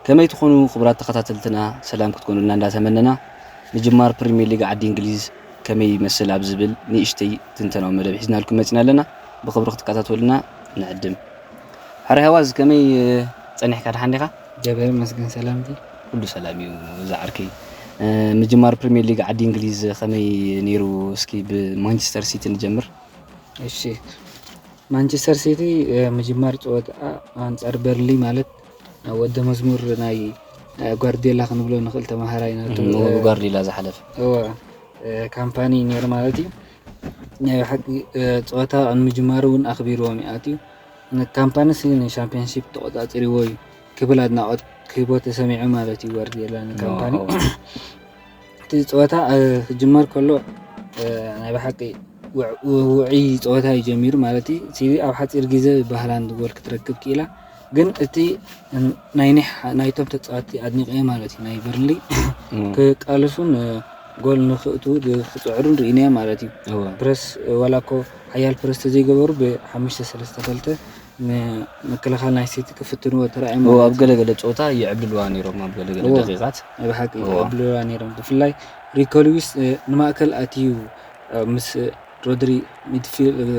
ከመይ ትኾኑ ክቡራት ተኸታተልትና ሰላም ክትኮኑልና እንዳተመነና ምጅማር ፕሪሚየር ሊግ ዓዲ እንግሊዝ ከመይ ይመስል ኣብ ዝብል ንእሽተይ ትንተናዊ መደብ ሒዝናልኩም መፂና ኣለና ብክብሪ ክትከታተሉና ንዕድም ሕረ ሄዋዝ ከመይ ጸኒሕካ ደሓን ዲኻ? እግዚኣብሔር ይመስገን ሰላም እየ ኩሉ ሰላም እዩ እዛ ዓርከይ ምጅማር ፕሪሚየር ሊግ ዓዲ እንግሊዝ ከመይ ነይሩ እስኪ ብማንቸስተር ሲቲ ንጀምር እሺ ማንቸስተር ሲቲ ምጅማር ፀወታ ኣንፃር በርሊ ማለት ወደ መዝሙር ናይ ጓርዲዮላ ክንብሎ ንኽእል ተማሃራይ ናቱ ጓርዲዮላ ዝሓለፈ ካምፓኒ ነይሩ ማለት እዩ ናይ ብሓቂ ጸወታ ኣብ ምጅማሩ እውን ኣኽቢርዎም እዩ ኣትዩ። ንካምፓኒ ስኒ ንሻምፒዮንሺፕ ተቖጻጺርዎ እዩ ክብል ኣድናቖት ክህቦ ተሰሚዑ ማለት እዩ ጓርዲዮላ ንካምፓኒ። እቲ ጸወታ ክጅመር ከሎ ናይ ብሓቂ ውዑይ ጸወታ እዩ ጀሚሩ ማለት እዩ። ሲቲ ኣብ ሓጺር ግዜ ብሃላንድ ጎል ክትረክብ ክኢላ። ግን እቲ ናይ ኒሕ ናይቶም ተጻወትቲ ኣድኒቀዮ ማለት እዩ ናይ በርንሊ ክቃለሱን ጎል ንክእቱ ክጽዕሩን ርኢናዮ ማለት እዩ ፕረስ ዋላ እኮ ሓያል ፕረስ ተዘይገበሩ ብሓሙሽተ ሰለስተ ክልተ ምክልኻል ናይ ሲቲ ክፍትንዎ ተራእዮም ኣብ ገለገለ ፀወታ ይዕብልልዋ ነይሮም ኣብ ገለገለ ደቂቃት ናይ ብሓቂ ይዕብልልዋ ነይሮም ብፍላይ ሪኮ ሉዊስ ንማእከል ኣትዩ ምስ ሮድሪ ሚድፊልድ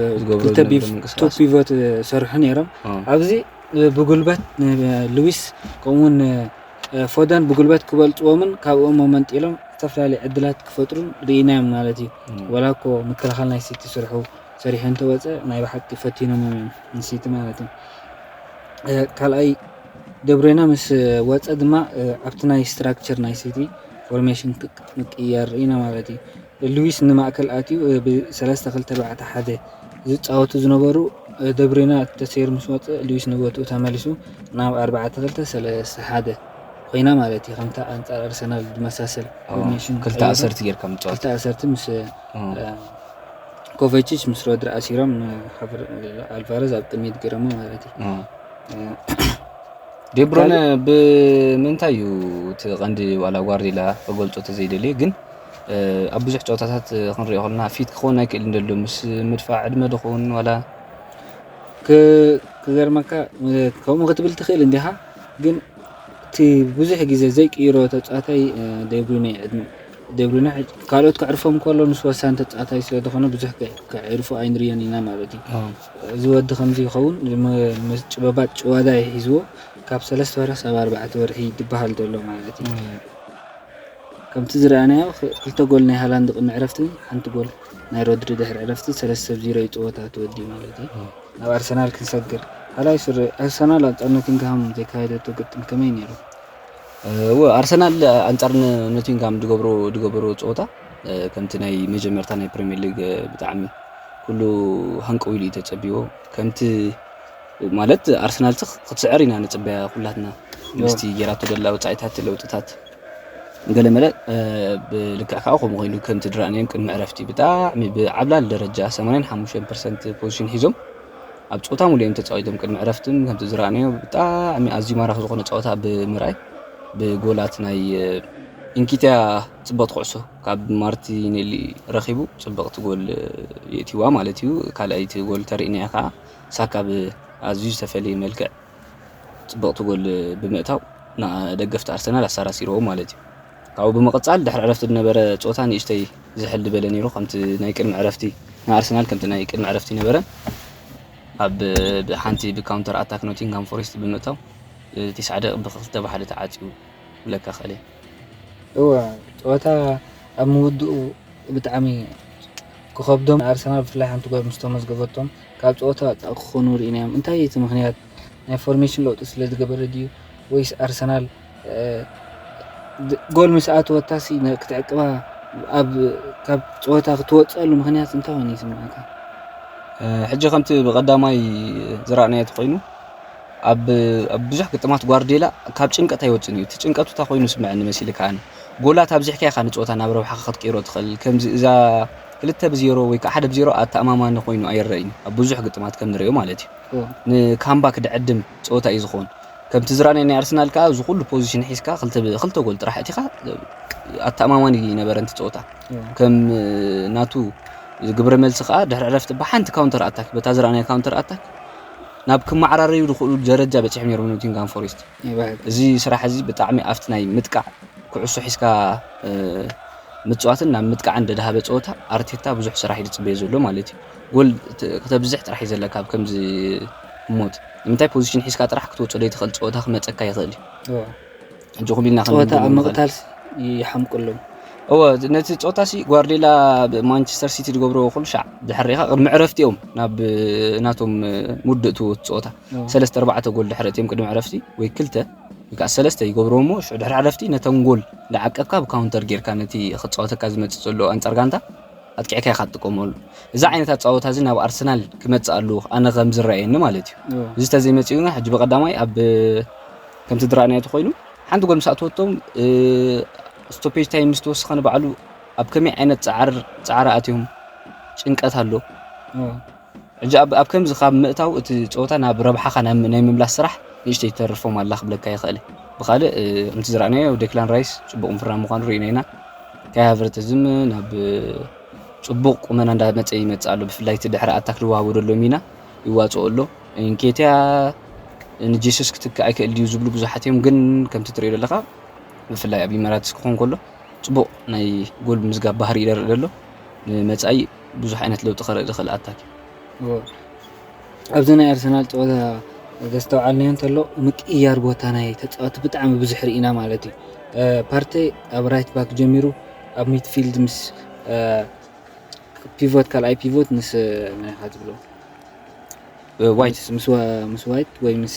ፒቮት ዝሰርሑ ነይሮም ኣብዚ ብጉልበት ልዊስ ከምኡውን ፎደን ብጉልበት ክበልፅዎምን ካብኦም መመንጢሎም ዝተፈላለዩ ዕድላት ክፈጥሩን ርኢናዮም ማለት እዩ ወላ እኮ ምክልኻል ናይ ሲቲ ስርሑ ሰሪሑ እንተወፀ ናይ ብሓቂ ፈቲኖም እዮም ንሲቲ ማለት እዩ ካልኣይ ደብሬና ምስ ወፀ ድማ ኣብቲ ናይ ስትራክቸር ናይ ሲቲ ፎርሜሽን ምቅያር ርኢና ማለት እዩ ሉዊስ ንማእከል ኣትዩ ብ ሰለስተ ክልተ ባዕታ ሓደ ዝጻወቱ ዝነበሩ ደብሩይነ ተሰይሩ ምስ ወጸ ሉዊስ ንቦትኡ ተመሊሱ ናብ ኣርባዕተ ክልተ ሰለስተ ሓደ ኮይና ማለት እዩ ከምታ ኣንጻር ኣርሰናል ዝመሳሰል ፎርሜሽን ክልተ ኣሰርቲ ጌርካ ምጽዋት ክልተ ኣሰርቲ ምስ ኮቨቺች ምስ ሮድሪ ኣሲሮም ኣልቫረዝ ኣብ ቅድሚት ገረሞ ማለት እዩ ዴብሮነ ብምንታይ እዩ እቲ ቀንዲ ዋላ ጓርዲላ ክገልጾ ተዘይደልየ ግን ኣብ ብዙሕ ጸወታታት ክንሪኦ ከለና ፊት ክኸውን ኣይክእልን ደሎ ምስ ምድፋዕ ዕድመ ድኹን ዋላ ክገርመካ ከምኡ ክትብል ትኽእል እንዲኻ ግን እቲ ብዙሕ ግዜ ዘይቅይሮ ተጻዋታይ ደብሪነ ዕድመ ደብሪነ ካልኦት ከዕርፎም ከሎ ንሱ ወሳኒ ተጻዋታይ ስለ ዝኾነ ብዙሕ ከዕርፎ ኣይንርዮን ኢና ማለት እዩ እዚ ወዲ ከምዚ ይኸውን ጭበባት ጭዋዳ ይሒዝዎ ካብ ሰለስተ ወርሒ ሳብ ኣርባዕተ ወርሒ ዝበሃል ዘሎ ማለት እዩ ከምቲ ዝረኣናዮ ክልተ ጎል ናይ ሃላንድ ቅድሚ ዕረፍቲ ሓንቲ ጎል ናይ ሮድሪ ድሕሪ ዕረፍቲ ሰለስተ ብ ዚሮ ዩ ጸወታ ተወዲኡ ማለት ዩ። ናብ ኣርሰናል ክንሰግር ካልኣይ ሱር ኣርሰናል ኣንጻር ኖቲንግሃም ዘካየደቶ ግጥም ከመይ ነይሩ? እወ ኣርሰናል ኣንጻር ኖቲንግሃም ድገብሮ ድገበሮ ጸወታ ከምቲ ናይ መጀመርታ ናይ ፕሪሚየር ሊግ ብጣዕሚ ኩሉ ሃንቀው ኢሉ እዩ ተጸቢዎ ከምቲ ማለት ኣርሰናል ክትስዕር ኢና ንጽበያ ኩላትና ምስቲ ጌራቶ ደላ ወጻኢታት ለውጥታት ገለመለ ብልክዕ ከኣ ከምኡ ኮይኑ ከምቲ ድራእናዮም ቅድሚ ዕረፍቲ ብጣዕሚ ብዓብላሊ ደረጃ 85 ፐርሰንት ፖዚሽን ሒዞም ኣብ ፀወታ ሙሉ እዮም ተፃዊቶም ቅድሚ ዕረፍቲ ከምቲ ዝረኣናዮ ብጣዕሚ ኣዝዩ ማራኺ ዝኾነ ፀወታ ብምርኣይ ብጎላት ናይ ኢንኪትያ ፅብቕቲ ኩዕሶ ካብ ማርቲኔሊ ረኺቡ ፅብቕቲ ጎል የእትዋ ማለት እዩ ካልኣይቲ ጎል ተርእና እያ ከዓ ሳካ ብኣዝዩ ዝተፈለየ መልክዕ ጽብቕቲ ጎል ብምእታው ንደገፍቲ ኣርሰናል ኣሳራሲርዎም ማለት እዩ። ካብኡ ብምቕጻል ድሕሪ ዕረፍቲ ዝነበረ ጾታ ንእሽተይ ዝሕል ዝበለ ነይሩ ከምቲ ናይ ቅድሚ ዕረፍቲ ንኣርሰናል ከምቲ ናይ ቅድሚ ዕረፍቲ ነበረ ኣብ ሓንቲ ብካውንተር ኣታክ ኖቲንግሃም ፎሬስት ብምእታው ቲስዓ ደቂቕ ብክልተ ብሓደ ተዓጽዩ ክብለካ ክእል እየ። እወ ጸወታ ኣብ ምውድኡ ብጣዕሚ ክኸብዶም ኣርሰናል ብፍላይ ሓንቲ ጓል ምስ ተመዝገበቶም ካብ ጸወታ ወጻኢ ክኾኑ ርኢናዮም። እንታይ እዩ እቲ ምኽንያት? ናይ ፎርሜሽን ለውጢ ስለዝገበረ ድዩ ወይስ ኣርሰናል ጎል ምስ ኣተወታሲ ክትዕቅባ ኣብ ካብ ጸወታ ክትወጸሉ ምኽንያት እንታይ ኮይኑ ይስምዓካ? ሕጂ ከምቲ ብቀዳማይ ዝረኣናዮ ተኮይኑ ኣብ ብዙሕ ግጥማት ጓርዲዮላ ካብ ጭንቀት ኣይወፅን እዩ እቲ ጭንቀቱ እታ ኮይኑ ስምዐኒ መሲልካ ኣነ ጎላት ኣብዚሕካ ኢኻ ንፀወታ ናብ ረብሓኻ ክትቅይሮ ትኽእል ከምዚ እዛ ክልተ ብ ዜሮ ወይ ከኣ ሓደ ብ ዜሮ ኣተኣማማኒ ኮይኑ ኣይረኣይን ኣብ ብዙሕ ግጥማት ከም ንርእዮ ማለት እዩ ን ካምባክ ድዕድም ጸወታ እዩ ዝኸውን ከምቲ ዝራእናዮ ናይ ኣርሰናል ከኣ እዚ ኩሉ ፖዚሽን ሒዝካ ክልተ ብ ክልተ ጎል ጥራሕ ኣእቲካ ኣተኣማማኒ ኣይነበረን እቲ ጸወታ ከም ናቱ ግብረ መልሲ ከኣ ድሕሪ ዕረፍቲ ብ ሓንቲ ካውንተር ኣታክ በታ ዝራእናያ ካውንተር ኣታክ ናብ ክመዓራረዩ ዝኽእሉሉ ደረጃ በጺሖም ኔሮም ኖቲንግሃም ፎሬስት። እዚ ስራሕ እዚ ብጣዕሚ ኣብቲ ናይ ምጥቃዕ ኩዕሶ ሒዝካ ምፅዋትን ናብ ምጥቃዕን ደድሃበ ፀወታ ኣርቴታ ብዙሕ ስራሕ እዩ ዝፅበዮ ዘሎ ማለት እዩ። ጎል ክተብዝሕ ጥራሕ እዩ ዘለካ ኣብ ከምዚ ህሞት ንምንታይ ፖዚሽን ሒዝካ ጥራሕ ክትወፆ ዘይትኽእል ፀወታ ክመፀካ ይኽእል እዩ። ሕጂ ኩሉ ኢና ክንብል ፀወታ ኣብ ምቕታል ይሓምቁሎም እወ ነቲ ፆታ ሲ ጓርዴላ ማንቸስተር ሲቲ ዝገብሮ ኩሉ ሻዕ ድሕር ሪኢኻ ቅድሚ ዕረፍቲ እዮም ናብ ናቶም ምውድእ ትውት ፀወታ ሰለስተ ኣርባዕተ ጎል ድሕሪ ኣእትዮም ቅድሚ ዕረፍቲ ወይ ክልተ ወይ ከኣ ሰለስተ ይገብርዎ እሞ ሽዑ ድሕሪ ዕረፍቲ ነተን ጎል እንዳዓቀብካ ብ ካውንተር ጌርካ ነቲ ክጻወተካ ዝመጽእ ዘሎ ኣንጻር ጋንታ ኣጥቂዕካ ኢኻ ትጥቀመሉ እዚ ዓይነት ኣጻውታ እዚ ናብ ኣርሰናል ክመጽእ ኣለዎ ኣነ ከም ዝረኣየኒ ማለት እዩ እዚ ተዘይመጺኡ ግን ሕጂ ብቀዳማይ ኣብ ከምቲ ድራእናዮ ተኮይኑ ሓንቲ ጎል ምስ ኣተወቶም ስቶፔጅ ታይም ምስ ተወሰኸ ንባዕሉ ኣብ ከመይ ዓይነት ጻዕር ጻዕሪ ኣትዮም ጭንቀት ኣሎ ሕጂ ኣብ ኣብ ከምዚ ካብ ምእታው እቲ ጸወታ ናብ ረብሓኻ ናብ ናይ ምምላስ ስራሕ ንእሽተይ ትተርፎም ኣላ ክብለካ ይኽእል። ብኻልእ ከምቲ ዝረኣናዮ ዴክላን ራይስ ጽቡቕ ምፍራም ምዃኑ ርኢና ኢና። ካይ ሃቨርትዝም ናብ ጽቡቕ ቁመና እንዳመጸ ይመጽእ ኣሎ ብፍላይ እቲ ድሕሪ ኣታክ ዝወሃቦ ዘሎ ሚና ይዋጽኦ ኣሎ። እንኬትያ ንጀሱስ ክትክእ ኣይክእል ድዩ ዝብሉ ብዙሓት እዮም ግን ከምቲ ትሪኦ ዘለካ ብፍላይ ኣብ ኢመራትስ ክኾን ከሎ ፅቡቅ ናይ ጎል ምዝጋብ ባህሪ ይደርእ ዘሎ ንመፃኢ ብዙሕ ዓይነት ለውጢ ከርኢ ዝኽእል ኣታክ እዩ። ኣብዚ ናይ ኣርሰናል ጸወታ ዘስተውዓልናዮ እንተሎ ምቅይያር ቦታ ናይ ተጻወቲ ብጣዕሚ ብዙሕ ርኢና ማለት እዩ። ፓርቴ ኣብ ራይት ባክ ጀሚሩ ኣብ ሚድፊልድ ምስ ፒቮት ካልኣይ ፒቮት ምስ መን ትብሎ ዋይት ምስ ዋይት ወይ ምስ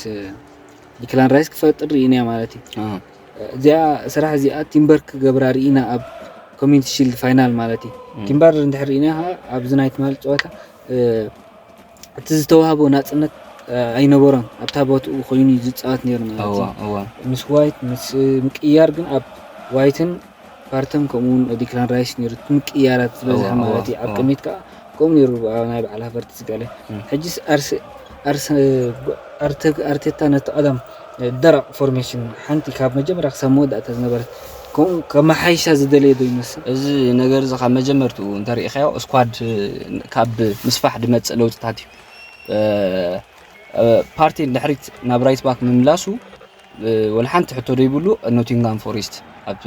ዲክላን ራይስ ክፈጥር ርኢናዮ ማለት እዩ። እዚኣ ስራሕ እዚኣ ቲምበር ክገብራ ርኢና ኣብ ኮሚኒቲ ሺልድ ፋይናል ማለት እዩ ቲምበር እንድሕር ርኢና ከዓ ኣብዚ ናይ ትማሊ ፀወታ እቲ ዝተዋህቦ ናፅነት ኣይነበሮን ኣብታ ቦትኡ ኮይኑ ዝፃወት ነይሩ ማለት እዩ ምስ ዋይት ምስ ምቅያር ግን ኣብ ዋይትን ፓርተም ከምኡውን ዲክላን ራይስ ነይሩ እቲ ምቅይያራት ዝበዝሐ እዋ፣ ማለት እዩ እዋ፣ ኣብ እዋ። ቅድሚት ከዓ ከምኡ ነይሩ ኣብ ናይ በዓል ሃቨርትዝ ገለ ሕጅስ ኣርሰ ኣርሰ ኣርተ ኣርቴታ ነቲ ቀደም ደረቕ ፎርሜሽን ሓንቲ ካብ መጀመርያ ክሳብ መወዳእታ ዝነበረት ከምኡ ከመሓይሻ ዝደለየ ዶ ይመስል? እዚ ነገር እዚ ካብ መጀመርትኡ እንተሪኢኻዮ ስኳድ ካብ ምስፋሕ ዝመፅእ ለውጥታት እዩ እ፣ ፓርቴ ንድሕሪት ናብ ራይት ባክ ምምላሱ ወላ ሓንቲ ሕቶ ዘይብሉ ኖቲንግሃም ፎሬስት ኣብ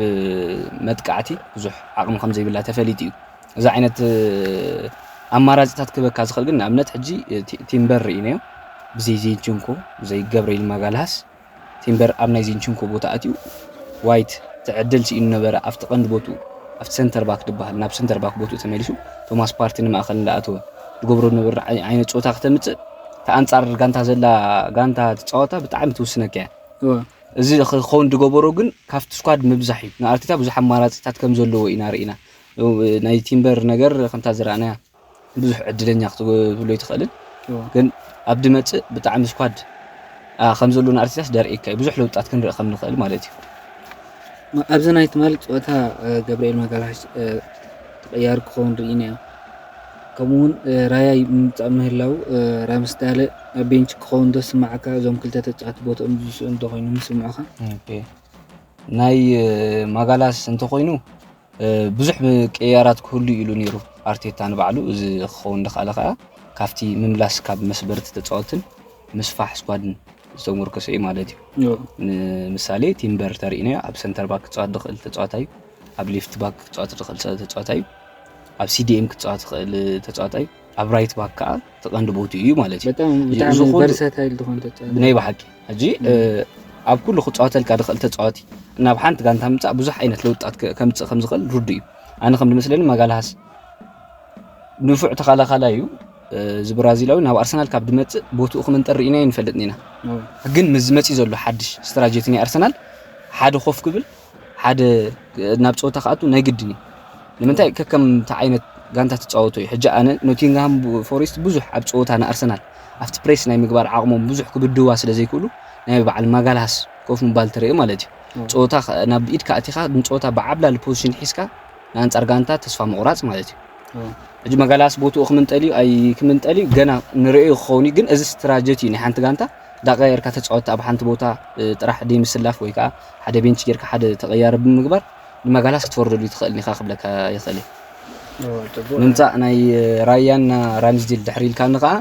መጥቃዕቲ ብዙሕ ዓቕሚ ከም ዘይብላ ተፈሊጡ እዩ። እዚ ዓይነት ኣማራጺታት ክበካ ዝኽእል ግን ንኣብነት ሕጂ ቲምበር ርኢናዮ ብዘይ ዚንችንኮ ብዘይ ገብርኤል ማጋልሃስ ቲምበር ኣብ ናይ ዚንችንኮ ቦታ ኣትዩ ዋይት ትዕድል ስኢኑ ነበረ ኣብቲ ቀንዲ ቦቱ ኣብቲ ሰንተር ባክ ድበሃል ናብ ሰንተር ባክ ቦትኡ ተመሊሱ ቶማስ ፓርቲ ንማእኸል እንዳኣተወ ዝገብሮ ዝነበረ ዓይነት ፆታ ክተምፅእ እታ ኣንጻር ጋንታ ዘላ ጋንታ ትጻወታ ብጣዕሚ ትውስነካ እያ። እዚ ክኸውን ዝገበሮ ግን ካብቲ ስኳድ ምብዛሕ እዩ። ንኣርቴታ ብዙሕ ኣማራጺታት ከም ዘለዎ ኢና ርኢና። ናይ ቲምበር ነገር ከምታ ዝረኣናያ ብዙሕ ዕድለኛ ክትብሎ ኣይትኽእልን፣ ግን ኣብ ድመጽእ ብጣዕሚ ስኳድ ከም ዘሎ ንኣርቴታስ ደርእካ እዩ። ብዙሕ ለውጣት ክንርኢ ከም ንኽእል ማለት እዩ። ኣብዚ ናይ ትማሊ ፀወታ ገብርኤል ማጋላሽ ተቐያሪ ክኸውን ርኢና እዩ። ከምኡ ውን ራያ ይምጻእ ምህላዉ ራያ ምስ ዳለ ኣብ ቤንች ክኸውን ዶ ዝስምዓካ እዞም ክልተ ተጻወቲ ቦትኦም ዝስእኑ እንተኾይኖም ይስምዑኻ? ኦኬ ናይ ማጋላስ እንተኾይኑ ብዙሕ ቅያራት ክህሉ ኢሉ ነይሩ ኣርቴታ ንባዕሉ እዚ ክኸውን ዝኸኣለ ከዓ ካብቲ ምምላስ ካብ መስበርቲ ተፃወትን ምስፋሕ ስኳድን ዝተሞርከሰ እዩ ማለት እዩ ንምሳሌ ቲምበር ተሪእና ኣብ ሰንተር ባክ ክፃወት ዝኽእል ተፃዋታይ ኣብ ሌፍት ባክ ክፃወት ዝኽእል ተፃዋታይ እዩ ኣብ ሲዲኤም ክጻወት ዝኽእል ተጻዋታይ ኣብ ራይት ባክ ከዓ እቲ ቀንዲ ቦትኡ እዩ ማለት እዩ በጣም እዚ ብጣዕሚ ዝኾነ- ቨርሳታይል ዝኾነ ተጫዋች ብናይ ብሓቂ ሕጂ እ፣ ኣብ ኩሉ ክጻወተልካ ዝኽእል ተጻዋቲ ናብ ሓንቲ ጋንታ ምምጻእ ብዙሕ ዓይነት ለውጥታት ከ- ከምጽእ ከም ዝኽእል ርዱእ እዩ ኣነ ከም ዝመስለኒ ማጋልሃስ ንፉዕ ተኸላኻላይ እዩ እ፣ እዚ ብራዚላዊ ናብ ኣርሰናል ካብ ድመጽእ ቦትኡ ክምንጠር ርኢናዮ ንፈልጥ ኢና ግን ምስ ዝመጽእ ዘሎ ሓድሽ ስትራጀቲ ናይ ኣርሰናል ሓደ ኮፍ ክብል ሓደ ናብ ጸወታ ክኣቱ ናይ ግድን እዩ ንምንታይ ከከምቲ ዓይነት ጋንታ ትጻወቶ እዩ ሕጂ ኣነ ኖቲንግሃም ፎሬስት ብዙሕ ኣብ ጸወታ ንኣርሰናል ኣብቲ ፕሬስ ናይ ምግባር ዓቕሞም ብዙሕ ክብድህዋ ስለ ዘይክእሉ ናይ በዓል ማጋልሃስ ኮፍ ምባል ትርኢ ማለት እዩ ጸወታ ናብ ኢድ ካኣቲኻ ንጸወታ ብዓብላሊ ፖዚሽን ሒዝካ ንኣንጻር ጋንታ ተስፋ ምቑራጽ ማለት እዩ ሕጂ መጋላስ ቦትኡ ክምንጠል እዩ ኣይ ክምንጠል እዩ ገና ንርእዩ ክኸውን እዩ ግን እዚ ስትራጀቲ እዩ ናይ ሓንቲ ጋንታ ዳቀያየርካ ተጻወቲ ኣብ ሓንቲ ቦታ ጥራሕ ደይ ምስላፍ ወይ ከዓ ሓደ ቤንች ጌርካ ሓደ ተቐያሪ ብምግባር ንማጋላስ ክትወርደሉ ይትኽእል ኢኻ ክብለካ ይኽእል እየ። ምምፃእ ናይ ራያና ራምስዴል ድሕሪ ኢልካኒ ከዓ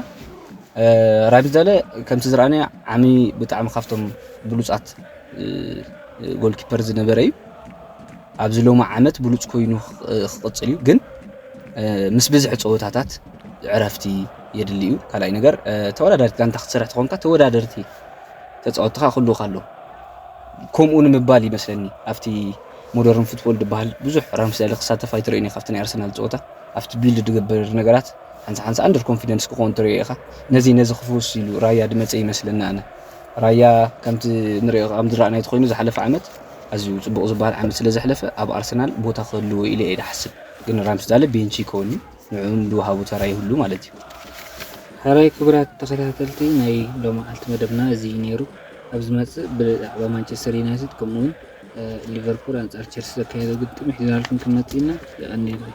ራምስደለ ከምቲ ዝረኣናዮ ዓሚ ብጣዕሚ ካብቶም ብሉፃት ጎልኪፐር ዝነበረ እዩ ኣብዚ ሎሚ ዓመት ብሉፅ ኮይኑ ክቕፅል እዩ ግን ምስ ብዝሒ ፀወታታት ዕረፍቲ የድሊ እዩ ካልኣይ ነገር ተወዳዳሪት ጋንታ ክትሰርሕ ተኾንካ ተወዳደርቲ ተፃወትኻ ክህልውካ ኣለዎ ከምኡ ንምባል ይመስለኒ ኣብቲ ሞደርን ፉትቦል ድበሃል ብዙሕ ራምስደሊ ክሳተፍ ኣይትርእዮን ኢኻ ኣብቲ ናይ ኣርሰናል ፀወታ ኣብቲ ቢልድ ድገብር ነገራት ሓንሳ ሓንሳ ኣንደር ኮንፊደንስ ክኾን ትርእዮ ኢኻ ነዚ ነዚ ክፍውስ ኢሉ ራያ ድመፀ ይመስለኒ ኣነ ራያ ከምቲ ንሪኦ ከም ዝረኣናዮ ተኮይኑ ዝሓለፈ ዓመት ኣዝዩ ፅቡቕ ዝበሃል ዓመት ስለ ዘሕለፈ ኣብ ኣርሰናል ቦታ ክህልዎ ኢለ እየ ድሓስብ ግን ራምስዳለ ቤንቺ ይከውን እዩ ንዕኡን ዝወሃቡ ተራ ይህሉ ማለት እዩ። ሐራይ ክቡራት ተኸታተልቲ ናይ ሎምዓልቲ መደብና እዚ እዩ ነይሩ። ኣብ ዝመጽእ ብዛዕባ ማንቸስተር ዩናይትድ ከምኡውን ሊቨርፑል ኣንጻር ቸልሲ ዘካየዶ ግጥም ሒዝናልኩም ክንመጽእ ኢና። የቐንየለይ።